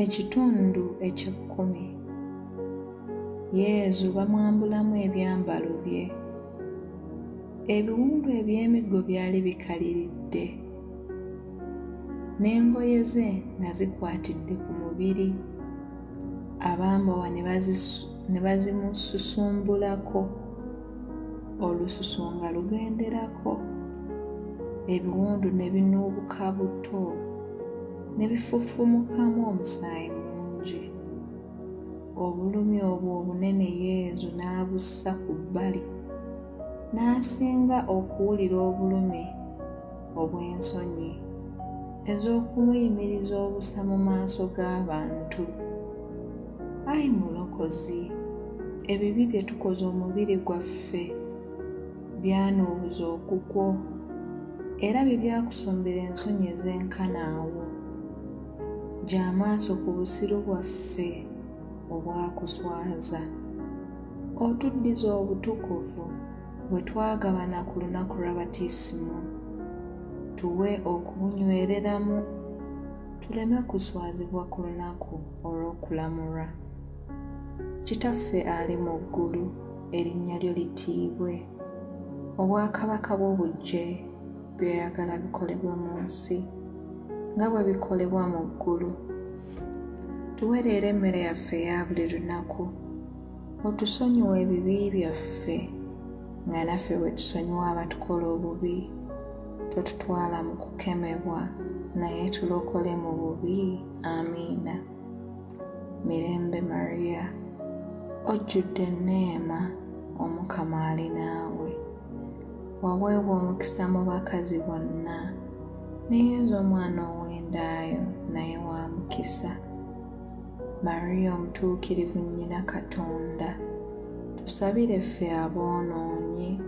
Ekitundu eky'ekkumi. Yezu bamwambulamu ebyambalo bye. Ebiwundu eby'emiggo byali bikaliridde, n'engoye ze nga zikwatidde ku mubiri, abambowa ne bazimususumbulako. olususu nga lugenderako ebiwundu ne binuubuka buto ne bifufumukamu omusaayi mungi obulumi obwo obunene yezu n'abussa ku bbali n'asinga okuwulira obulumi obw'ensonyi ez'okumuyimiriza obusa mu maaso g'abantu. Ayi Mulokozi, ebibi bye tukoze omubiri gwaffe byanuubuza ogugwo era bye byakusombera ensonyi ez'enkana awo. Gya amaaso ku busiru bwaffe obwakuswaza, otuddize obutukuvu. bwe twagabana ku lunaku lwa batisimo tuwe okubunywereramu tuleme kuswazibwa ku lunaku olw'okulamulwa kitaffe ali mu ggulu erinnya lyo litiibwe obwakabaka bwo bujje byoyagala bikolebwa mu nsi nga bwe bikolebwa mu ggulu tuwereera emmere yaffe eya buli lunaku otusonyiwa ebibi byaffe nga naffe bwe tusonyiwa abatukola obubi totutwala mu kukemebwa naye tulokole mu bubi amiina mirembe mariya ojjudde enneema omukama ali naawe waweebwa omukisa mu bakazi bonna ne yezu omwana ow'endaayo naye wa mukisa Maria omutuukirivu nnyina Katonda, tusabire ffe aboonoonyi,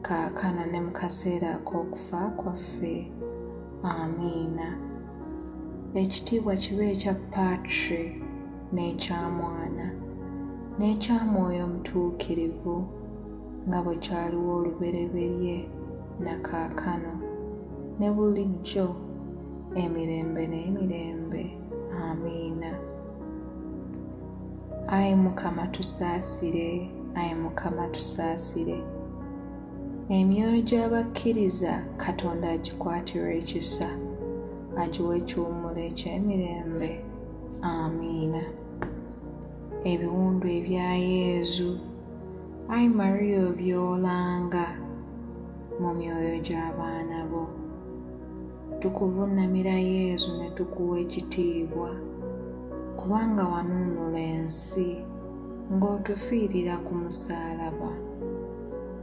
kaakano ne mu kaseera ak'okufa kwaffe. Amiina. Ekitiibwa kibe ekya Patri n'ekya Mwana n'ekya Mwoyo Omutuukirivu, nga bwe kyaliwo olubereberye na kaakano ne bulijjo emirembe n'emirembe. amiina ayi mukama tusaasire ayi mukama tusaasire emyoyo gy'abakkiriza katonda agikwatirwa ekisa agiwa ekiwummulo eky'emirembe amiina ebiwundu ebya yezu ayi mariya obyolanga mu myoyo gy'abaana bo Tukuvunnamira Yezu ne tukuwa ekitiibwa, kubanga wanunula ensi ng'otufiirira ku musaalaba.